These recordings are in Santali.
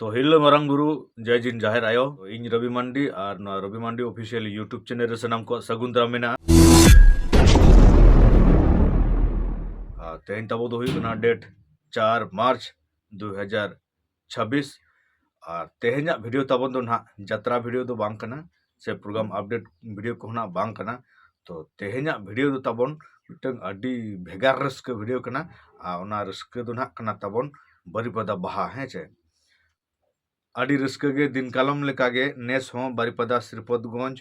ᱛᱚ ᱦᱤᱞᱳ ᱢᱟᱨᱟᱝ ᱜᱩᱨᱩ ᱡᱟᱭ ᱡᱤᱱ ᱡᱟᱦᱮᱨ ᱟᱭᱳ ᱤᱧ ᱨᱚᱵᱤ ᱢᱟᱱᱰᱤ ᱟᱨ ᱱᱚᱣᱟ ᱨᱚᱵᱤ ᱢᱟᱱᱰᱤ ᱚᱯᱷᱤᱥᱤᱭᱟᱞ ᱤᱭᱩᱴᱩᱵᱽ ᱪᱮᱱᱮᱞ ᱨᱮ ᱥᱟᱱᱟᱢ ᱠᱚᱣᱟᱜ ᱥᱟᱹᱜᱩᱱ ᱫᱟᱨᱟᱢ ᱢᱮᱱᱟᱜᱼᱟ ᱟᱨ ᱛᱮᱦᱮᱧ ᱛᱟᱵᱚ ᱫᱚ ᱦᱩᱭᱩᱜ ᱠᱟᱱᱟ ᱰᱮᱴ ᱪᱟᱨ ᱢᱟᱨᱪ ᱫᱩ ᱦᱟᱡᱟᱨ ᱪᱷᱟᱵᱵᱤᱥ ᱟᱨ ᱛᱮᱦᱮᱧᱟᱜ ᱵᱷᱤᱰᱤᱭᱳ ᱛᱟᱵᱚᱱ ᱫᱚ ᱱᱟᱦᱟᱜ ᱡᱟᱛᱨᱟ ᱵᱷᱤᱰᱤᱭᱳ ᱫᱚ ᱵᱟᱝ ᱠᱟᱱᱟ ᱥᱮ ᱯᱨᱳᱜᱨᱟᱢ ᱟᱯᱰᱮᱴ ᱵᱷᱤᱰᱭᱳ ᱠᱚᱦᱚᱸ ᱱᱟᱜ ᱵᱟᱝ ᱠᱟᱱᱟ ᱛᱚ ᱛᱮᱦᱮᱧᱟᱜ ᱵᱷᱤᱰᱭᱳ ᱫᱚ ᱛᱟᱵᱚᱱ ᱢᱤᱫᱴᱟᱝ ᱟᱹᱰᱤ ᱵᱷᱮᱜᱟᱨ ᱨᱟᱹᱥᱠᱟᱹ ᱵᱷᱤᱰᱭᱳ ᱠᱟᱱᱟ ᱟᱨ ᱚᱱᱟ ᱨᱟᱹᱥᱠᱟᱹ ᱫᱚ ᱱᱟᱜ ᱠᱟᱱᱟ ᱛᱟᱵᱚᱱ ᱵᱟᱹᱨᱤᱯᱟᱫᱟ ᱵᱟᱦᱟ ᱦᱮᱸ ᱪᱮ ᱟᱹᱰᱤ ᱨᱟᱹᱥᱠᱟᱹ ᱜᱮ ᱫᱤᱱ ᱠᱟᱞᱚᱢ ᱞᱮᱠᱟᱜᱮ ᱱᱮᱥ ᱦᱚᱸ ᱵᱟᱹᱨᱤᱯᱟᱫᱟ ᱥᱨᱤᱯᱚᱛᱜᱚᱸᱡᱽ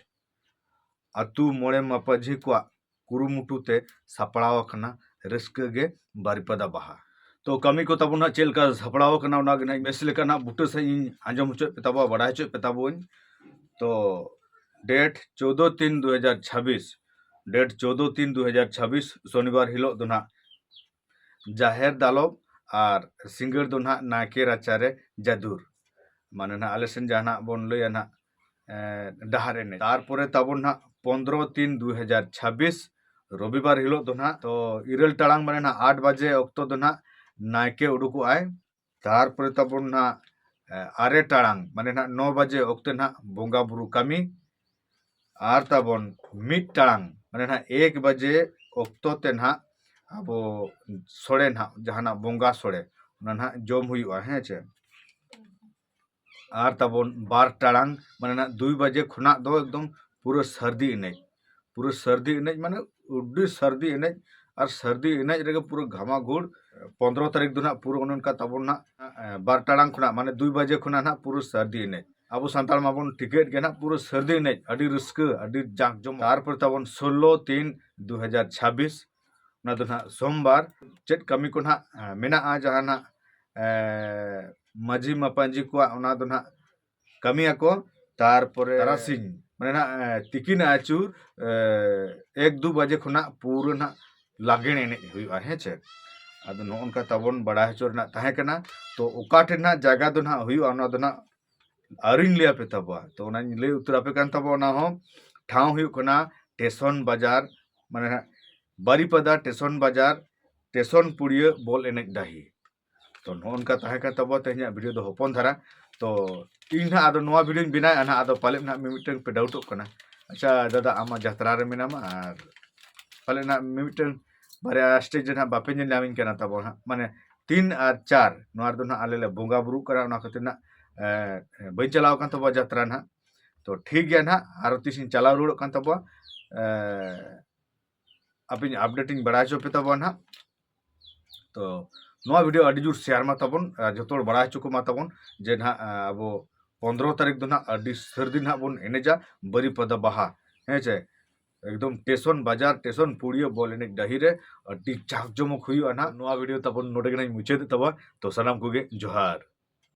ᱟᱛᱳ ᱢᱚᱬᱮ ᱢᱟᱯᱟᱡᱷᱤ ᱠᱚᱣᱟᱜ ᱠᱩᱨᱩᱢᱩᱴᱩ ᱛᱮ ᱥᱟᱯᱲᱟᱣ ᱟᱠᱟᱱᱟ ᱨᱟᱹᱥᱠᱟᱹ ᱜᱮ ᱵᱟᱨᱤᱯᱟᱫᱟ ᱵᱟᱦᱟ ᱛᱚ ᱠᱟᱹᱢᱤ ᱠᱚ ᱛᱟᱵᱚᱱ ᱦᱟᱸᱜ ᱪᱮᱫ ᱞᱮᱠᱟ ᱥᱟᱯᱲᱟᱣ ᱟᱠᱟᱱᱟ ᱚᱱᱟ ᱜᱮ ᱦᱟᱸᱜ ᱵᱮᱥ ᱞᱮᱠᱟ ᱦᱟᱸᱜ ᱵᱩᱴᱟᱹ ᱥᱟᱺᱦᱤᱡ ᱤᱧ ᱟᱸᱡᱚᱢ ᱦᱚᱪᱚᱭᱮᱫ ᱯᱮ ᱛᱟᱵᱚᱱᱟ ᱵᱟᱰᱟᱭ ᱦᱚᱪᱚᱭᱮᱫ ᱯᱮ ᱛᱟᱵᱚᱱᱟᱹᱧ ᱛᱚ ᱰᱮᱴ ᱪᱳᱫᱫᱳ ᱛᱤᱱ ᱫᱩ ᱦᱟᱡᱟᱨ ᱪᱷᱟᱵᱵᱤᱥ ᱰᱮᱴ ᱪᱳᱫᱫᱳ ᱛᱤᱱ ᱫᱩ ᱦᱟᱡᱟᱨ ᱪᱷᱟᱵᱵᱤᱥ ᱥᱚᱱᱤᱵᱟᱨ ᱦᱤᱞᱳᱜ ᱫᱚ ᱦᱟᱸᱜ ᱡᱟᱦᱮᱨ ᱫᱟᱞᱚᱵ ᱟᱨ ᱥᱤᱸᱜᱟᱹᱲ ᱫᱚ ᱱᱟᱦᱟᱜ ᱱᱟᱭᱠᱮ ᱨᱟᱪᱟᱨᱮ ᱡᱟᱫᱩᱨ ᱢᱟᱱᱮ ᱱᱟᱦᱟᱜ ᱟᱞᱮ ᱥᱮᱱ ᱡᱟᱦᱟᱸ ᱱᱟᱦᱟᱜ ᱵᱚᱱ ᱞᱟᱹᱭᱟ ᱱᱟᱦᱟᱜ ᱰᱟᱦᱟᱨ ᱮᱱᱮᱡ ᱛᱟᱨᱯᱚᱨᱮ ᱛᱟᱵᱚᱱ ᱱᱟᱦᱟᱜ ᱯᱚᱱᱫᱨᱚ ᱛᱤᱱ ᱫᱩ ᱦᱟᱡᱟᱨ ᱪᱷᱟᱵᱵᱤᱥ ᱨᱚᱵᱤᱵᱟᱨ ᱦᱤᱞᱳᱜ ᱫᱚ ᱱᱟᱦᱟᱜ ᱛᱚ ᱤᱨᱟᱹᱞ ᱴᱟᱲᱟᱝ ᱢᱟᱱᱮ ᱱᱟᱦᱟᱜ ᱟᱴ ᱵᱟᱡᱮ ᱚᱠᱛᱚ ᱫᱚ ᱱᱟᱦᱟᱜ ᱱᱟᱭᱠᱮ ᱩᱰᱩᱠᱚᱜᱼᱟᱭ ᱛᱟᱨᱯᱚᱨᱮ ᱛᱟᱵᱚᱱ ᱱᱟᱜ ᱟᱨᱮ ᱴᱟᱲᱟᱝ ᱢᱟᱱᱮ ᱱᱟᱜ ᱱᱚ ᱵᱟᱡᱮ ᱚᱠᱛᱮ ᱱᱟᱜ ᱵᱚᱸᱜᱟ ᱵᱩᱨᱩ ᱠᱟᱹᱢᱤ ᱟᱨ ᱛᱟᱵᱚᱱ ᱢᱤᱫ ᱴᱟᱲᱟᱝ ᱢᱟᱱᱮ ᱱᱟᱜ ᱮᱠ ᱵᱟᱡᱮ ᱚᱠᱛᱚ ᱛᱮ ᱱᱟᱜ ᱟᱵᱚ ᱥᱚᱲᱮ ᱱᱟᱜ ᱡᱟᱦᱟᱱᱟᱜ ᱵᱚᱸᱜᱟ ᱥᱚᱲᱮ ᱚᱱᱟ ᱱᱟᱜ ᱡᱚᱢ ᱦᱩᱭᱩᱜᱼᱟ ᱦᱮᱸ ᱪᱮ ᱟᱨ ᱛᱟᱵᱚᱱ ᱵᱟᱨ ᱴᱟᱲᱟᱝ ᱢᱟᱱᱮ ᱱᱟᱜ ᱫᱩᱭ ᱵᱟᱡᱮ ᱠᱷᱚᱱᱟᱜ ᱫᱚ ᱮᱠᱫᱚᱢ ᱯᱩᱨᱟᱹ ᱥᱟᱹᱨᱫᱤ ᱮᱱᱮᱡ ᱯᱩᱨᱟᱹ ᱥᱟᱹᱨᱫᱤ ᱮᱱᱮᱡ ᱢᱟᱱᱮ ᱟᱹᱰᱤ ᱥᱟᱹᱨᱫᱤ ᱮᱱᱮᱡ ᱟᱨ ᱥᱟᱹᱨᱫᱤ ᱮᱱᱮᱡ ᱨᱮᱜᱮ ᱯᱩᱨᱟᱹ ᱜᱷᱟᱢᱟᱜᱷᱩᱲ ᱯᱚᱱᱨᱚ ᱛᱟᱹᱨᱤᱠᱷ ᱫᱚ ᱱᱟᱜ ᱯᱩᱨᱟᱹ ᱚᱱᱮ ᱚᱱᱠᱟ ᱛᱟᱵᱚᱱ ᱱᱟᱜ ᱵᱟᱨ ᱴᱟᱲᱟᱝ ᱠᱷᱚᱱᱟᱜ ᱢᱟᱱᱮ ᱫᱩᱭ ᱵᱟᱡᱮ ᱠᱷᱚᱱᱟᱜ ᱱᱟᱜ ᱯᱩᱨᱟᱹ ᱥᱟᱹᱨᱫᱤ ᱮᱱᱮᱡ ᱟᱵᱚ ᱥᱟᱱᱛᱟᱲ ᱢᱟᱵᱚᱱ ᱴᱷᱤᱠᱟᱹᱭᱮᱫ ᱜᱮ ᱱᱟᱜ ᱯᱩᱨᱟᱹ ᱥᱟᱹᱨᱫᱤ ᱮᱱᱮᱡ ᱟᱹᱰᱤ ᱨᱟᱹᱥᱠᱟᱹ ᱟᱹᱰᱤ ᱡᱟᱸᱠ ᱡᱚᱢᱚᱠ ᱛᱟᱨᱯᱚᱨ ᱛᱟᱵᱚᱱ ᱥᱳᱞᱞᱳ ᱛᱤᱱ ᱫᱩ ᱦᱟᱡᱟᱨ ᱪᱷᱟᱵᱵᱤᱥ ᱚᱱᱟ ᱫᱚ ᱱᱟᱦᱟᱜ ᱥᱳᱢᱵᱟᱨ ᱪᱮᱫ ᱠᱟᱹᱢᱤ ᱠᱚ ᱱᱟᱦᱟᱜ ᱢᱮᱱᱟᱜᱼᱟ ᱡᱟᱦᱟᱸ ᱱᱟᱦᱟᱜ ᱢᱟᱹᱡᱷᱤ ᱢᱟᱯᱟᱹᱡᱷᱤ ᱠᱚᱣᱟᱜ ᱚᱱᱟ ᱫᱚ ᱱᱟᱦᱟᱜ ᱠᱟᱹᱢᱤᱭᱟᱠᱚ ᱛᱟᱨᱯᱚᱨᱮ ᱛᱟᱨᱟᱥᱤᱧ ᱢᱟᱱᱮ ᱱᱟᱦᱟᱜ ᱛᱤᱠᱤᱱ ᱟᱹᱪᱩᱨ ᱮᱠ ᱫᱩ ᱵᱟᱡᱮ ᱠᱷᱚᱱᱟᱜ ᱯᱩᱨᱟᱹ ᱱᱟᱦᱟᱜ ᱞᱟᱜᱽᱬᱮ ᱮᱱᱮᱡ ᱦᱩᱭᱩᱜᱼᱟ ᱦᱮᱸ ᱪᱮ ᱟᱫᱚ ᱱᱚᱜᱼᱚ ᱱᱚᱝᱠᱟ ᱛᱟᱵᱚᱱ ᱵᱟᱲᱟᱭ ᱦᱚᱪᱚ ᱨᱮᱱᱟᱜ ᱛᱟᱦᱮᱸ ᱠᱟᱱᱟ ᱛᱚ ᱚᱠᱟ ᱴᱷᱮᱱ ᱱᱟᱦᱟᱜ ᱡᱟᱭᱜᱟ ᱫᱚ ᱱᱟᱦᱟᱜ ᱦᱩᱭᱩᱜᱼᱟ ᱚᱱᱟ ᱫᱚ ᱱᱟᱦᱟᱜ ᱟᱹᱣᱨᱤᱧ ᱞᱟᱹᱭ ᱟᱯᱮ ᱛᱟᱵᱚᱣᱟ ᱛᱚ ᱚᱱᱟᱧ ᱞᱟᱹᱭ ᱩᱛᱟᱹᱨ ᱟᱯᱮ ᱠᱟᱱ ᱛᱟᱵᱚᱣᱟ ᱚᱱᱟ ᱦᱚᱸ ᱴᱷᱟᱶ ᱦᱩᱭᱩᱜ ᱠᱟᱱᱟ ᱴᱮᱥᱚᱱ ᱵᱟᱡᱟᱨ ᱢᱟᱱᱮ ᱵᱟᱨᱤᱯᱟᱫᱟ ᱴᱮᱥᱚᱱ ᱵᱟᱡᱟᱨ ᱴᱮᱥᱚᱱ ᱯᱩᱲᱤᱭᱟᱹ ᱵᱚᱞ ᱮᱱᱮᱡ ᱰᱟᱹᱦᱤ ᱛᱚ ᱱᱚᱜᱼᱚ ᱱᱚᱝᱠᱟ ᱛᱟᱦᱮᱸ ᱠᱟᱱ ᱛᱟᱵᱚᱣᱟ ᱛᱮᱦᱮᱧᱟᱜ ᱵᱷᱤᱰᱤᱭᱳ ᱫᱚ ᱦᱚᱯᱚᱱ ᱫᱷᱟᱨᱟ ᱛᱚ ᱤᱧ ᱱᱟᱦᱟᱜ ᱟᱫᱚ ᱱᱚᱣᱟ ᱵᱷᱤᱰᱤᱭᱳᱧ ᱵᱮᱱᱟᱣᱮᱫᱼᱟ ᱱᱟᱦᱟᱜ ᱟᱫᱚ ᱯᱟᱞᱮᱫ ᱱᱟᱦᱟᱜ ᱢᱤᱢᱤᱫᱴᱟᱝ ᱯᱮ ᱰᱟᱣᱩᱴᱚᱜ ᱠᱟᱱᱟ ᱟᱪᱪᱷᱟ ᱫᱟᱫᱟ ᱟᱢ ᱢᱟ ᱡᱟᱛᱨᱟ ᱨᱮ ᱢᱮᱱᱟᱢᱟ ᱟᱨ ᱯᱟᱞᱮᱫ ᱱᱟᱦᱟᱜ ᱢᱤᱢᱤᱫᱴᱟᱝ ᱵᱟᱨᱭᱟ ᱥᱴᱮᱡᱽ ᱨᱮ ᱦᱟᱸᱜ ᱵᱟᱯᱮ ᱧᱮᱞ ᱧᱟᱢᱤᱧ ᱠᱟᱱᱟ ᱛᱟᱵᱚᱱ ᱦᱟᱸᱜ ᱢᱟᱱᱮ ᱛᱤᱱ ᱟᱨ ᱪᱟᱨ ᱱᱚᱣᱟ ᱨᱮᱫᱚ ᱦᱟᱸᱜ ᱟᱞᱮ ᱞᱮ ᱵᱚᱸᱜᱟ ᱵᱩᱨᱩᱜ ᱠᱟᱱᱟ ᱚᱱᱟ ᱠᱷᱟᱹᱛᱤᱨ ᱦᱟᱸᱜ ᱵᱟᱹᱧ ᱪᱟᱞᱟᱣ ᱠᱟᱱ ᱛᱟᱵᱚᱣᱟ ᱡᱟᱛᱨᱟ ᱦᱟᱸᱜ ᱛᱚ ᱴᱷᱤᱠ ᱜᱮᱭᱟ ᱦᱟᱸᱜ ᱟᱨᱚ ᱛᱤᱥᱤᱧ ᱪᱟᱞᱟᱣ ᱨᱩᱣᱟᱹᱲᱚᱜ ᱠᱟᱱ ᱛᱟᱵᱚᱣᱟ ᱟᱯᱮᱧ ᱟᱯᱰᱮᱴ ᱤᱧ ᱵᱟᱲᱟᱭ ᱦᱚᱪᱚ ᱯᱮ ᱛᱟᱵᱚᱱ ᱦᱟᱸᱜ ᱛᱚ ᱱᱚᱣᱟ ᱵᱷᱤᱰᱤᱭᱳ ᱟᱹᱰᱤ ᱡᱳᱨ ᱥᱮᱭᱟᱨ ᱢᱟ ᱛᱟᱵᱚᱱ ᱡᱚᱛᱚ ᱦᱚᱲ ᱵᱟᱲᱟᱭ ᱦᱚᱪᱚ ᱠᱚᱢᱟ ᱛᱟᱵᱚᱱ ᱡᱮ ᱱᱟᱦᱟᱜ ᱟᱵᱚ ᱯᱚᱱᱨᱚ ᱛᱟᱹᱨᱤᱠᱷ ᱫᱚ ᱱᱟᱦᱟᱜ ᱟᱹᱰᱤ ᱥᱟᱹᱨᱫᱤ ᱱᱟᱦᱟᱜ ᱵᱚᱱ ᱮᱱᱮᱡᱟ ᱵᱟᱹᱨᱤᱯᱟᱫᱟ ᱵᱟᱦᱟ ᱦᱮᱸ ᱪᱮ ᱮᱠᱫᱚᱢ ᱴᱮᱥᱚᱱ ᱵᱟᱡᱟᱨ ᱴᱮᱥᱚᱱ ᱯᱩᱲᱤᱭᱟᱹ ᱵᱚᱞ ᱮᱱᱮᱡ ᱰᱟᱹᱦᱤ ᱨᱮ ᱟᱹᱰᱤ ᱡᱟᱠ ᱡᱚᱢᱚᱠ ᱦᱩᱭᱩᱜᱼᱟ ᱱᱟᱦᱟᱜ ᱱᱚᱣᱟ ᱵᱷᱤᱰᱤᱭᱳ ᱛᱟᱵᱚᱱ ᱱᱚᱰᱮ ᱜᱮᱞᱟᱝ ᱢᱩᱪᱟᱹᱫᱮᱫ ᱛᱟᱵᱚᱱ ᱛᱚ ᱥᱟᱱᱟᱢ ᱠᱚᱜᱮ ᱡᱚᱦᱟᱨ